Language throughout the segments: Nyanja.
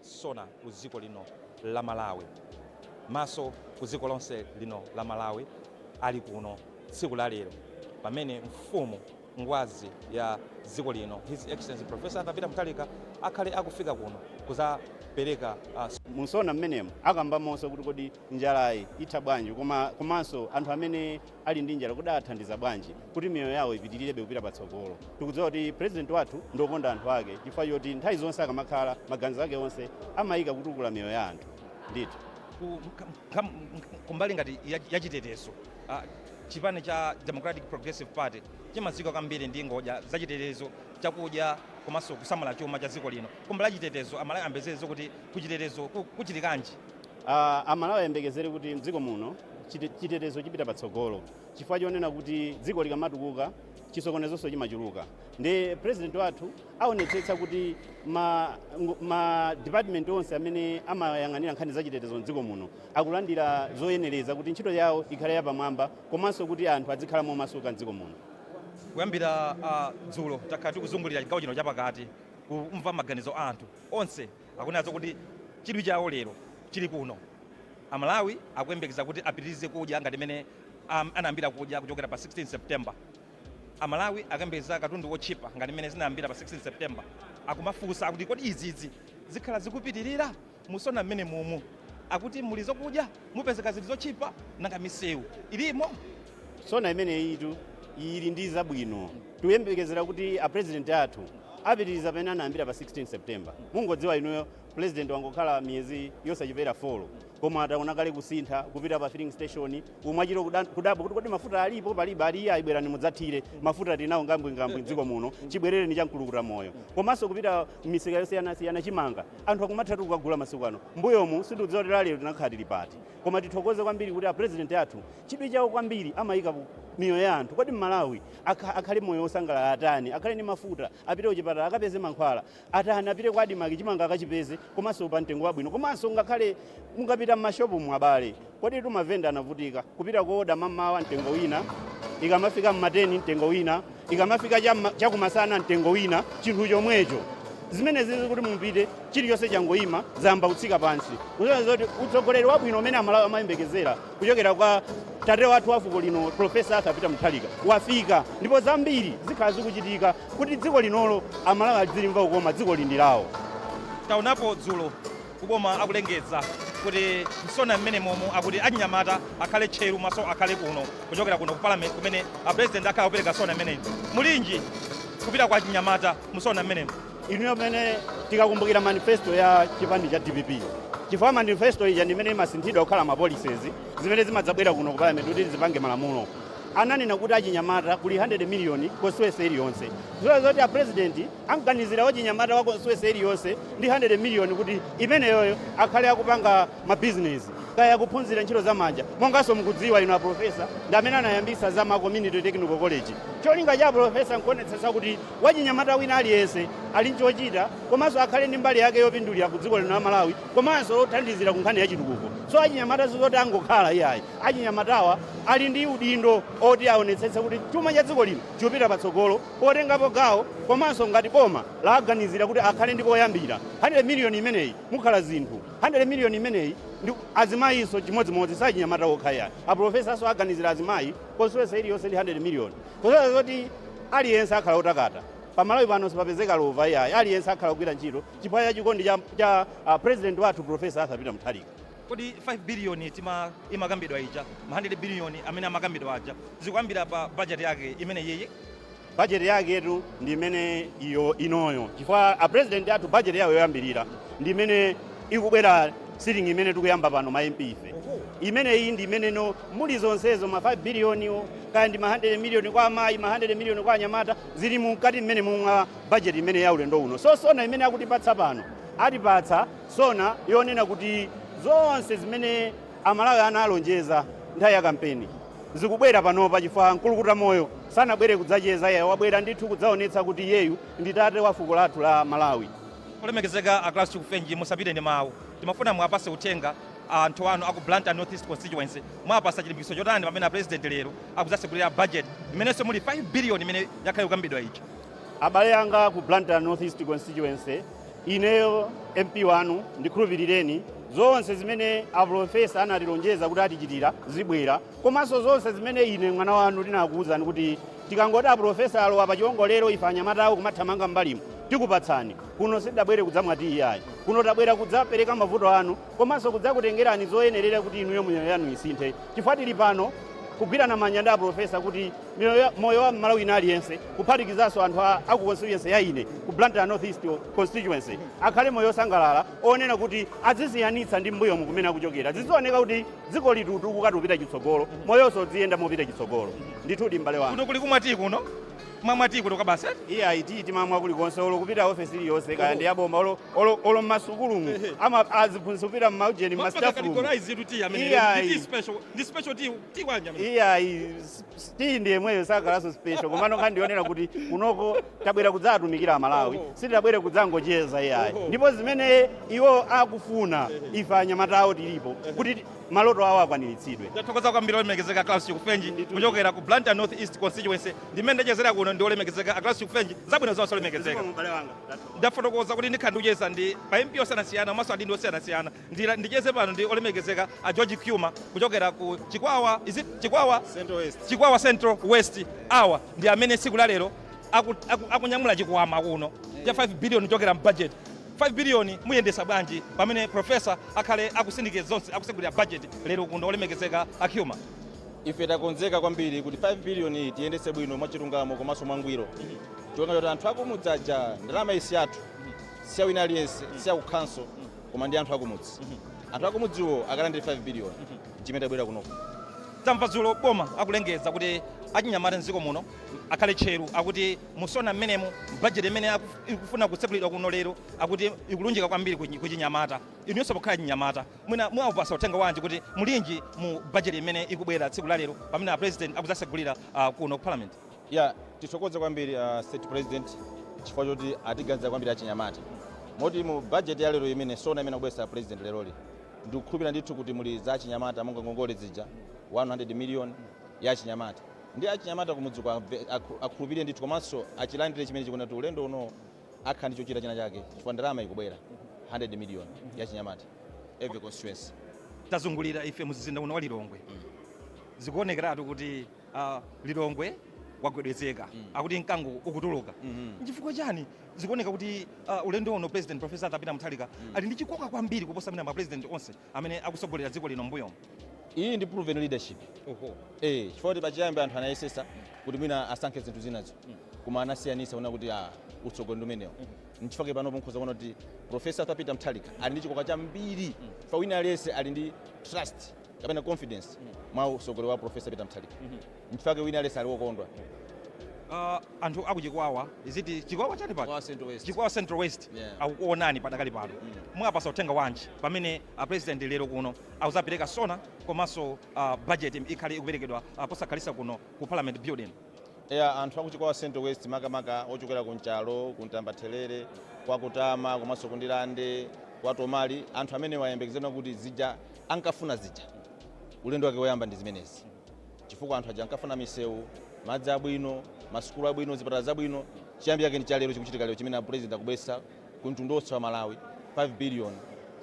Sona ku dziko lino la Malawi. Maso ku dziko lonse lino la Malawi ali kuno tsiku la lero pamene mfumu, ngwazi ya dziko lino His Excellency Prof. Arthur Peter Mutharika akhale akufika kuno kudzapereka. Mu Sona m'menemu akambamonso kuti kodi njalayi itha bwanji koma komanso anthu amene. ali ndi njala, kodi athandiza bwanji kuti miyoyo yawo ipitilirebe kupita patsogolo? Tikudziwa kuti President wathu ndi okonda anthu ake chifukwa choti nthawi zonse akamakhala, maganizo ake onse amayika kutukula miyoyo ya anthu. Ndithu. ku, kam, kumbali ngati ya, ya chitetezo uh, chipani cha Democratic Progressive Party chimadziwika kwambiri ndi ngodya za chitetezo chakudya komanso kusamala chuma cha dziko lino. Kumbali ya chitetezo amalawi ayembekezere zoti kuti kuchitetezo ku- kuchitikanji Uh, amalawi ayembekezere kuti mdziko muno chitetezo chipita patsogolo chifukwa chonena kuti dziko likamatukuka chisokonezonso chimachuluka ndiye president wathu aonetsetsa kuti ma, ma department onse amene amayang'anira nkhani za chitetezo mdziko muno akulandira zoyenereza kuti ntchito yawo ikhale yapamwamba komanso kuti anthu adzikhala momasuka mdziko muno kuyambira uh, dzulo takhala tikuzungulira chigawo chino chapakati kumva maganizo a anthu onse Akunenanso kuti chidwi chawo lero chili kuno. Amalawi akuyembekeza kuti apitirize kudya ngati mmene anayambira kudya kuchokera pa 16 September. Amalawi akuyembekeza katundu wotchipa ngati mmene zinayambira pa 16 September. Akumafunsa kuti, Kodi izizi zikhala zikupitirira? Musona mmenemumu akuti muli zokudya? mupezeka zinthu zotchipa nanga misewu ilimo? Sona imeneyitu ili ndi zabwino. Tikuyembekezera kuti a president athu apitiriza pamene anayambira pa 16 September. Mungodziwa inuyo president wangokhala miyezi yosachepera 4 koma taona kale kusintha kupita pa filling station umachita kudabwa kuti kodi mafuta alipo palibe ali iyayi bwerani mudzathire mafuta tinawo ngambwingambwi m'dziko muno chibwerereni cha mkulukuta moyo komanso kupita m'misika yosiyanasiyana chimanga Anthu akumathatu kukagula masiku ano. Mmbuyomu sindikudziwa kuti lelolo tinakhala tili pati. Koma tithokoze kwambiri kuti a President athu chidwi chawo kwambiri amaika miyoyo ya anthu. Kodi Mmalawi akha, akhale moyo wosangalala atani? Akhale ndi mafuta, apite kuchipatala akapeze mankhwala, atani? Apite kwa Admarc chimanga akachipeze komanso pa mtengo wabwino. Komanso ngakhale mungapite mmashopmu abale. Koditu mavenda anavutika kupita kooda mammawa mtengo wina, ikamafika mma 10 mtengo wina, ikamafika cha mma, cha kumasana mtengo wina chinthu chomwecho. Zimenezizi kuti mupite chilichonse changoima zayamba kutsika pansi. Kusonyeza zoti utsogoleri wabwino umene Amalawi amayembekezera kuchokera kwa tate wathu wa fuko lino Prof. Arthur Peter Mutharika wafika ndipo zambiri zikhala zikuchitika kuti dziko linolo Amalawi adzilimva kukoma, dzikoli ndi lawo. Taonapo dzulo ku boma akulengeza kuti mu sona mmenemomo akuti achinyamata akhale tcheru maso akhale kuno kuchokera kuno ku parliament kumene a president akhala akupereka sona mmene mulinji kupita kwa achinyamata mu sona mmenemu inuyo pamene tikakumbukira manifesto ya chipani cha dpp chifukwa manifesto ija ndi imene imasinthidwa kukhala mapolicies zimene zimadzabwera kuno ku parliament kuti zipange malamulo ananena kuti achinyamata kuli 100 miliyoni constituency iliyonse dziwa zoti a president Amuganizira wachinyamata wa constituency iliyonse ndi 100 million kuti imeneyoyo akhale akupanga ma business kaya akuphunzira ntchito za manja monganso mukudziwa inu a professor ndi amene anayambisa za ma community technical college. Cholinga cha a professor nkuonetsetsa kuti wachinyamata wina aliyense ali nchochita komanso akhale ndi mbali yake yopindulira ku dziko lino la Malawi komanso lothandizira ku nkhani ya chitukuko. So achinyamata sizoti angokhala iyayi. Achinyamatawa ali ndi udindo oti aonetsetse kuti chuma cha dziko lino chikupita patsogolo. potengapo gawo komanso ngati boma laaganizira kuti akhale ndi poyambira 100 million imeneyi mukhala zinthu 100 million imeneyi ndi azimayinso chimodzimodzi si achinyamata okha iyayi apulofesanso aganizira azimayi constituency iliyonse ndi 100 million kusonyeza zoti aliyense akhala otakata pa malawi pano sipapezeka lova iyayi aliyense akhala akugwira ntchito chifukwa cha chikondi cha, cha uh, president wathu profesa arthur peter mutharika kodi 5 billion tima imakambidwa ija ma 100 billion amene amakambidwa aja zikuyambira pa budget yake imeneyiyi budget yaketu ndi imene iyo inoyo chifukwa a president athu budget yawo yoyambirira ndi imene ikubwera sitting imene tikuyamba pano ma MP ife imene iyi ndi imeneno muli zonsezo ma 5 billionwo, kaya ndi ma 100 million kwa amayi ma 100 million kwa anyamata zili mkati mmenemu mwa budget imene ya ulendo uno so sona imene akutipatsa pano atipatsa sona yonena kuti zonse zimene Amalawi analonjeza nthawi ya kampeni zikubwera panopa chifukwa mkulukuta moyo sanabwere kudzacheza iyayi wabwera ndithu kudzaonetsa kuti iyeyu ndi tate wa fuko lathu la Malawi. Olemekezeka a Klaus Chikufenji musapite ndi mawu. Timafuna muwapatse uthenga anthu anu aku Blantyre North East Constituency. Muwapatsa chilimbikitso chotani pamene a President lero akudzatsegulira budget imenenso muli 5 billion imene yakhala ikukambidwa ija. Abale anga aku Blantyre North East Constituency. Ineyo MP wanu ndikhulupirireni, zonse zimene aprofesa anatilonjeza kuti atichitira zibwera, komanso zonse zimene ine mwana wanu ndinakuwuzani kuti tikangoti aprofesa alowa pa chiwongolero ife anyamata awo kumathamanga m'mbalimu tikupatsani. Kuno sitidabwere kudzamwa tiyi ayi, kuno tabwera kudzapereka mavuto anu komanso kudzakutengerani zoyenerera kuti inuyo miyoyo yanu isinthe chifukwa tili pano kugwirana manja ndi aprofesa kuti miyoyo ya- moyo wa mmalawi wina aliyense kuphatikizanso anthu a- aku constituency ya ine ku blantyre north east constituency akhale moyo osangalala onena kuti azisiyanitsa ndi mbuyomu kumene akuchokera zizioneka kuti dzikolitutu likatupita chitsogolo moyonso udziyenda mopita chitsogolo ndithudi mbale wanu kuno kuli kumwati kuno Kumamwa tiyi kuno kwa basi eti? Iya iti timamwa kulikonse olo kupita ofesi iliyonse kaya ndi yaboma olo olo olo mmasukulumu Ehe. ama aziphunzitsi kupita mmaujeni Ma- mpaka mmastafumu. categorize kuti tiyi amene Iya, ndi tiyi iyi. special ndi special tiyi tiyi wanji amene Iya iyi s- s- tiyi ndi yemweyo sakhalanso special komano nkhani ndionera kuti kunoko tabwera kudzatumikira Amalawi Oho. sitabwere kudzangocheza iyayi Oho. ndipo zimene iwo akufuna ife anyamata awo tilipo kuti maloto awo akwaniritsidwe. Ndathokoza kwambiri olemekezeka a Klaus Chikufenji kuchokera ku Blantyre North East constituency ndimene ndachezera kuno ndi olemekezeka a Klaus Chikufenji zabwino zonse olemekezeka. Zikomo m'bale wanga. Ndathokoza. ndafotokoza kuti ndikhala ndikucheza ndi pa mp osiyanasiyana komanso adindo osiyanasiyana Ndila- ndicheze pano ndi olemekezeka a george cuma kuchokera ku chikwawa is it chikwawa Central West. chikwawa central west awa ndi amene tsiku la lero aku- aku- akunyamula chikwama kuno cha 5 billion kuchokera mbudget 5 billion muyendesa bwanji pamene professor akhale akusindikiza zonse akusegulira budget lero kuno olemekezeka a Cuma. Ife takonzeka kwambiri kuti 5 billion iyi tiyendetse bwino mwachilungamo komanso mwangwiro chifukwa choti anthu akumudzi aja ndalama iyi siyathu siya wina aliyense siya ku council koma ndi anthu akumudzi anthu akumudziwo akalandire 5 billion chimene tabwerera kunoko. Tamva dzulo boma akulengeza kuti achinyamata m'dziko muno akhale tcheru akuti Mu Sona mmenemu, budget imene ikufuna kutsegulidwa kuno lero akuti ikulunjika kwambiri ku chinyamata. Inuyonso pokhala chinyamata mwina mwawapatsa uthenga wanji kuti mulinji mu budget imene ikubwera tsiku la lero pamene a President akudzasegulira kuno ku Parliament? Yeah, tithokoze kwambiri a State President chifukwa choti atiganizira kwambiri achinyamata. Moti mu budget ya lero imene sona imene akubweretsa a President leroli, ndikukhulupirira ndithu kuti muli za achinyamata monga ngongole zija 100 million ya achinyamata. Ndi achinyamata kumudzi uko akhulupirire ndithu komanso achilandire chimene chikubwera kuti ulendo uno akhala ndi chochita china chake chifukwa ndalama ikubwera 100 million ya achinyamata every constituency. Tazungulira ife mumzinda uno wa Lilongwe zikuonekeratu kuti uh, Lilongwe wagwedezeka mm. akuti mkango ukutuluka mm -hmm. Nchifukwa chani zikuoneka kuti uh, ulendo uno President Professor Arthur Peter Mutharika mm. ali ndi chikoka kwambiri kuposa amene ma president onse amene akutsogolera dziko lino m'mbuyomu? Iyi ndi proven leadership eeh chifukwa kuti pachiyambi anthu anayesesa kuti mwina asankhe zinthu zinazo koma anasiyanisa kuona kuti aah utsogoleri ndi umenewo nchifukwa chake panopo mukhoza kuona kuti Prof. Arthur Peter Mtharika ali ndi chikoka chambiri chifukwa wina aliyense ali ndi trust kapena confidence mwa utsogoleri wa Prof. Peter Mtharika. Nchifukwa chake wina aliyense ali wokondwa. Uh, anthu akuchikwawa is it chikwawa chani pa chikwawa central west yeah. akukuonani padakali pano mm. mwapasa uthenga wanji pamene a uh, president lero kuno akuzapereka sona komanso uh, budget ikhale ikuperekedwa uh, posakhalisa kuno ku parliament building yeah, anthu akuchikwawa central west makamaka ochokera ku nchalo ku ntambathelere kwa kutama komanso kundilande kwa tomali anthu amenewa ayembekezere kuti zija ankafuna zija ulendo wake woyamba ndi zimenezi chifukwa anthu aja ankafuna misewu, madzi abwino, masukulu abwino, zipatala zabwino. Chiyambi chake ndi cha lero chikuchitika lero chimene apulezidenti akubweretsa ku mtundu wonse wa Malawi 5 biliyoni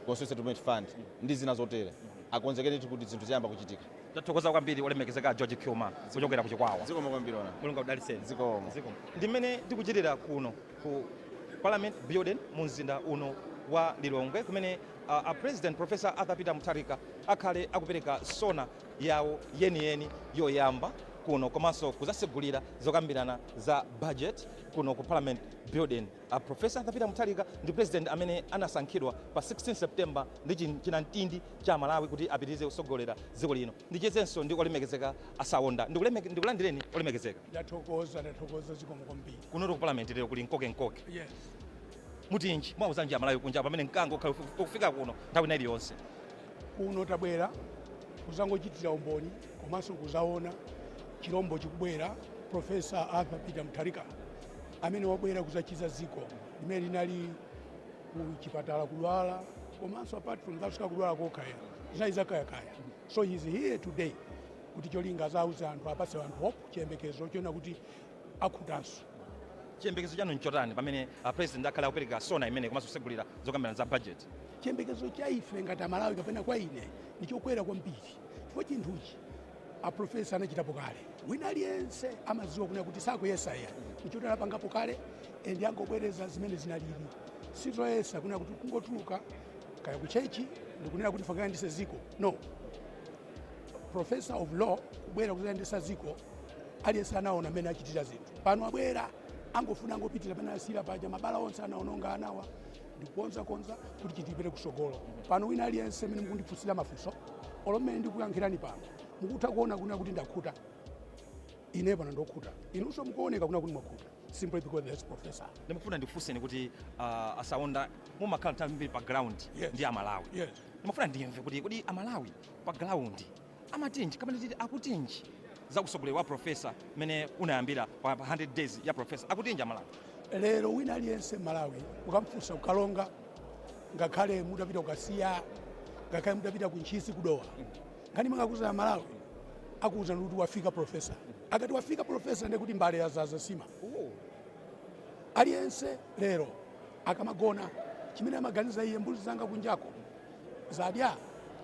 Constituency Development Fund ndi zina zotere. Akonzekere ndithu kuti zinthu ziyamba kuchitika. Tathokoza kwambiri olemekezeka a George Khuma kuchokera ku Chikwawa. Zikomo kwambiri ona. Mulungu akudalitseni. Zikomo. Zikomo. Ndi mmene tikuchitira kuno ku Parliament Building mu mzinda uno wa Lilongwe kumene uh, a President Professor Arthur Peter Mutharika akhale akupereka sona yawo yeniyeni yoyamba kuno komanso kuzasegulira zokambirana za budget kuno ku parliament building. A Professor Arthur Peter Mutharika ndi president amene anasankhidwa pa 16 September ndi chi- chinamtindi cha Malawi kuti apitirize kusogolera dziko lino. Ndichezenso ndi olemekezeka a Saonda. Ndikuleme- Ndikulandireni olemekezeka. ndathokoza ndathokoza zikomo kwambiri Kunotu ku parliament lero kuli nkoke nkoke. yes Mutinji mwauzanji amalawi kunja pamene mkango ukhale ukufika kuno nthawi ina iliyonse. Kuno tabwera kuzangochitira umboni komanso kuzaona chilombo chikubwera, Professor Arthur Peter Mutharika amene wabwera kuzachiza ziko limene linali ku chipatala kudwala komanso apart from that kudwala kokha ayi zinali zakayakaya so he is here today kuti cholinga azauze anthu apase anthu hope chiyembekezo chonena kuti akhutanso. Chiyembekezo chanu nchotani pamene a President akhale akupereka sona imeneyi komanso kusegulira zokambirana za budget? Chiyembekezo cha ife ngati Amalawi kapena kwa ine ndichokwera kwambiri chifukwa chinthuchi a Professor anachitapo kale. Wina aliyense amadziwa kunena kuti sakuyesa ayi nchoti anapangapo kale endi angobwereza zimene zinalili sizoyesa kunena kuti kungotuluka kaya kuchechi ndikunena kuti ndifuna ndikayendese ziko no professor of law kubwera kuzayendesa ziko aliyense anaona mmene achitira zinthu pano abwera angofuna angopitiriza pamene anasiyira paja mabala onse anaononga anawa ndikukonza konza kuti chipitire kusogolo pano wina aliyense mmene mukundifunsira mafunso olo mmene ndikuyankhirani pano mukutha kuona kunena kuti ndakhuta ine pano ndokhuta inunso mukuoneka kunena kuti mwakhuta simply because there's professor ndimafuna ndikufunseni kuti uh, a Saonda mumakhala nthawi zambiri pa ground Yes. ndi amalawi Yes. ndimafuna ndimve kuti kodi amalawi pa ground amatinji kapena titi akutinji za usogoleri wa profesa mmene unayambira pa 100 days ya profesa akutinji amalawi lero wina aliyense mmalawi ukamfunsa ku Karonga ngakhale mutapita ku Kasiya ngakhale mutapita ku Ntchisi ku Dowa nkhani imene angakuuze amalawi akuwuzani kuti wafika profesa akati wafika profesa ndiye kuti mbale yazaza sima aliyense lero Akamagona, chimene amaganiza iye, Mbuzi zanga kunjako zadya,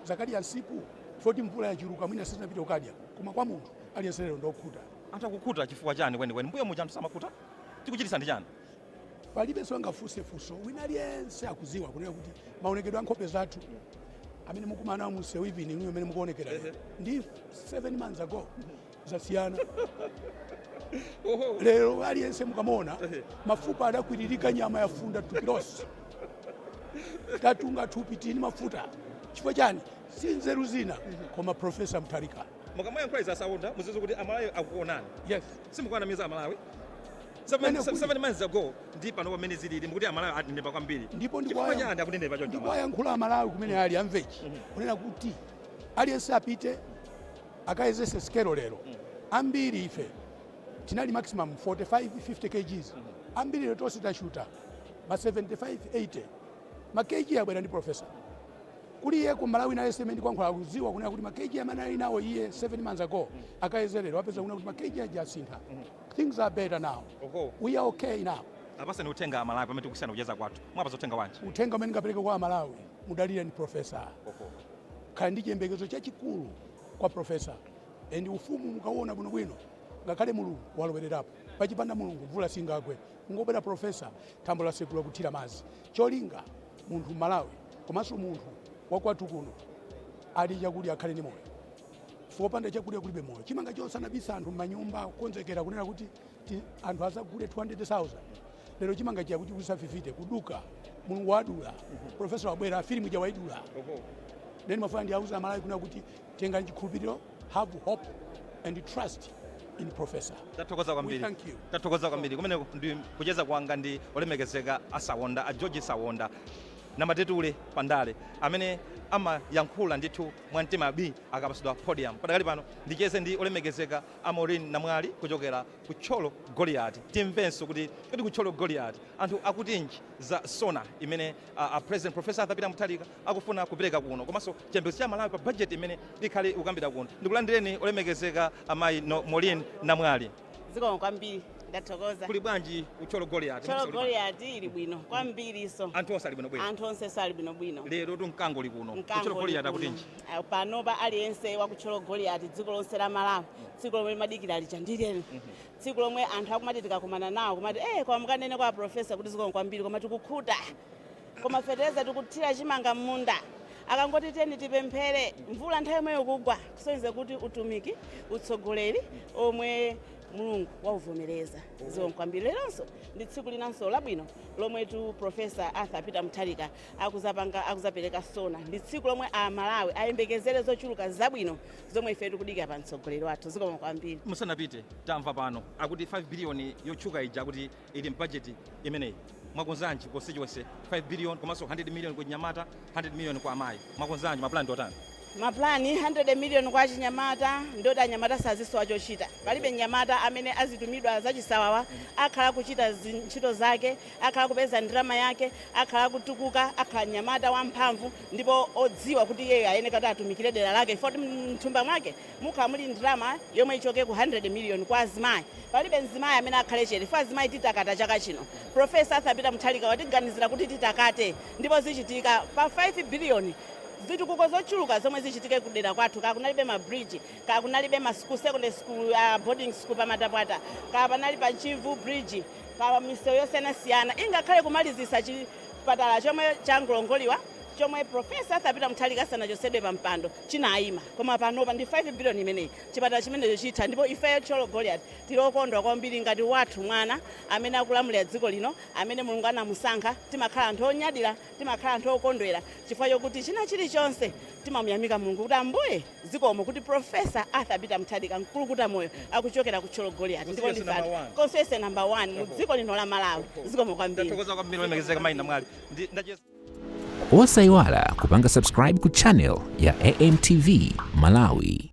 zakadya nsipu, chifukwa choti mvula yachuluka mwina sizinapite kukadya. Koma kwa munthu aliyense lero ndi okhuta. Anthu akukhuta chifukwa chani kwenikweni? Mbuyo muja anthu samakhuta? Chikuchititsa ndi chani? Palibenso angafunse funso. Wina aliyense akudziwa kunena kuti maonekedwe a nkhope zathu amene mukumana nawo mu msewu even inuyo mmene mukuonekera ndi 7 months ago. zasiyana lero aliyense mukamuona mafupa adakwiririka nyama yafunda thupi lonse tatunga thupi tili ni mafuta chifukwa chani si nzeru zina koma profesa mutharika mukamayankhula izi a sawonda muzidziwa kuti amalawi akuonani yes simukuwanamiza amalawi Mene kuti- 7 months ago ndi pano pamene zilili mukuti amalawi atindipa kwambiri ndipo chifukwa ndikuwaya- chani akutindipa choncho amalawi? ndikuwayankhula amalawi kumene ali amve ichi kunena kuti aliyense apite akayezese sikelo lero ambiri ife tinali maximum 45 50 kgs ambiri lero tonse tashuta ma 75 80 ma kg abwera ndi professor kuli iyeko mmalawi nayenso mmene ndikuyankhula akuziwa kunena kuti ma kg amene ali nawo iye 7 months ago akayeze lero apeza kunena kuti ma kg aja asintha things are better now Oho. we are okay now apasani uthenga amalawi pamene tikusiyana kucheza kwathu muwapasa uthenga wanji uthenga umene ndingapereke kwa amalawi mudalireni professor Oho. Khala ndi chiyembekezo chachikulu kwa professor and ufumu mukauona bwino bwino ngakhale mulungu walowelerapo pachipanda mulungu mvula singagwe kungobwera professor thambo lasegula kuthira madzi cholinga munthu mmalawi komanso munthu wakwathu kuno adye chakudya akhale ndi moyo chifukwa opanda chakudya kulibe moyo chimanga chonse anabisa anthu mmanyumba kukonzekera kunena kuti ti- anthu azagule 200,000 lero chimanga chija kuchikusa 50 kuduka mulungu wadula profesa wabwera filimu ija waidula then ndimafuna ndiwauze amalawi kunena kuti tengani chikhulupiriro have hope and trust in professor tathokoza kwambiri We thank you. tathokoza kwambiri kumeneko ndi kucheza kwanga ndi olemekezeka a sawonda a george sawonda namatetule pandale amene amayankhula ndithu mwa mtima bii akapasidwa podium padakali pano ndicheze ndi olemekezeka A Maureen Namwali kuchokera ku Thyolo Goliati. Timvenso kuti kodi ku Thyolo Goliati anthu akutinji za SONA imene a President Prof. Arthur Peter Mutharika akufuna kupereka kuno komanso chiyembekezo cha Amalawi pa budget imene ikhale ikukambidwa kuno. Ndikulandireni olemekezeka a mayi Maureen Namwali. Zikomo kwambiri. Ndathokoza. Kuli bwanji ku Thyolo Goliati? Thyolo Goliati ili bwino kwambirinso. Anthu onse ali bwinobwino? Anthu onsenso ali bwinobwino. Lerotu mkango uli kuno. Ku Thyolo Goliati akutinji? panopa aliyense wa ku thyolo goliati dziko lonse lamalawi tsiku lomwe limadikira lija ndi lero tsiku lomwe anthu akumati tikakumana nawo kumati eh koma mukanene kwa profesa kuti zikomo kwambiri koma tikukhuta koma fetereza tikuthira chimanga m'munda akangoti teni tipemphere mvula nthawi yomweyo kugwa kusonyeza kuti utumiki utsogoleri omwe mulungu wauvomereza zikomo kwambiri leronso ndi tsiku linanso labwino lomwetu profesa arthur peter mutharika akuzapanga akuzapeleka sona ndi tsiku lomwe a Malawi ayembekezere zochuluka zabwino zomwe ife tikudikira pa mtsogoleri wathu zikomo kwambiri. musanapite tamva pano akuti 5 billion yotchuka ija akuti ili m'bajeti imeneyi mwakonzanji constituency 5 billion komanso 100 million ku nyamata 100 million kwa amayi mwakonzanji mapulani ndi otani Ma plan 100 million kwa achinyamata ndi oti anyamata sazisowa chochita. Palibe mnyamata amene azitumidwa zachisawawa akhala kuchita ntchito zake, akhala kupeza ndalama yake, akhala kutukuka, akhala mnyamata wamphamvu ndipo odziwa kuti iye ayeneka kuti atumikire dera lake chifukwa kuti mthumba mwake mukhala muli ndalama yomwe ichoke ku 100 million kwa azimayi. Palibe mzimayi amene akhale chete chifukwa azimayi titakata chaka chino. Prof. Arthur Peter Mutharika watiganizira kuti titakate ndipo zichitika. Pa 5 billion. zitukuko zochuluka zomwe zichitike ku dera kwathu kaya kunalibe ma bridge kaya kunalibe ma school secondary school uh, boarding school pa matapwata kaya panali pa mchivu bridge pa misewu yosiyanasiyana ingakhale kumalizisa chipatala chomwe changolongoliwa chomwe profesa arthur peter mutharika asanachosedwe pa mpando chinayima koma panopa ndi 5 billion imeneyi chipatala chimenecho chitha ndipo ifeyo thyolo goliati tili okondwa kwambiri ngati wathu mwana amene akulamulira dziko lino amene mulungu anamusankha timakhala anthu onyadira Timakhala anthu okondwera chifukwa chokuti china chilichonse timamuyamika Mulungu kuti Ambuye zikomo kuti Professor Arthur Peter Mutharika mkulukuta moyo akuchokera ku Thyolo Goliati ndipo ndi constituency number 1 mu dziko lino la Malawi zikomo kwambiri Tathokoza kwambiri olemekezeka mayi Namwali. Osaiwala kupanga subscribe ku channel ya AMTV Malawi.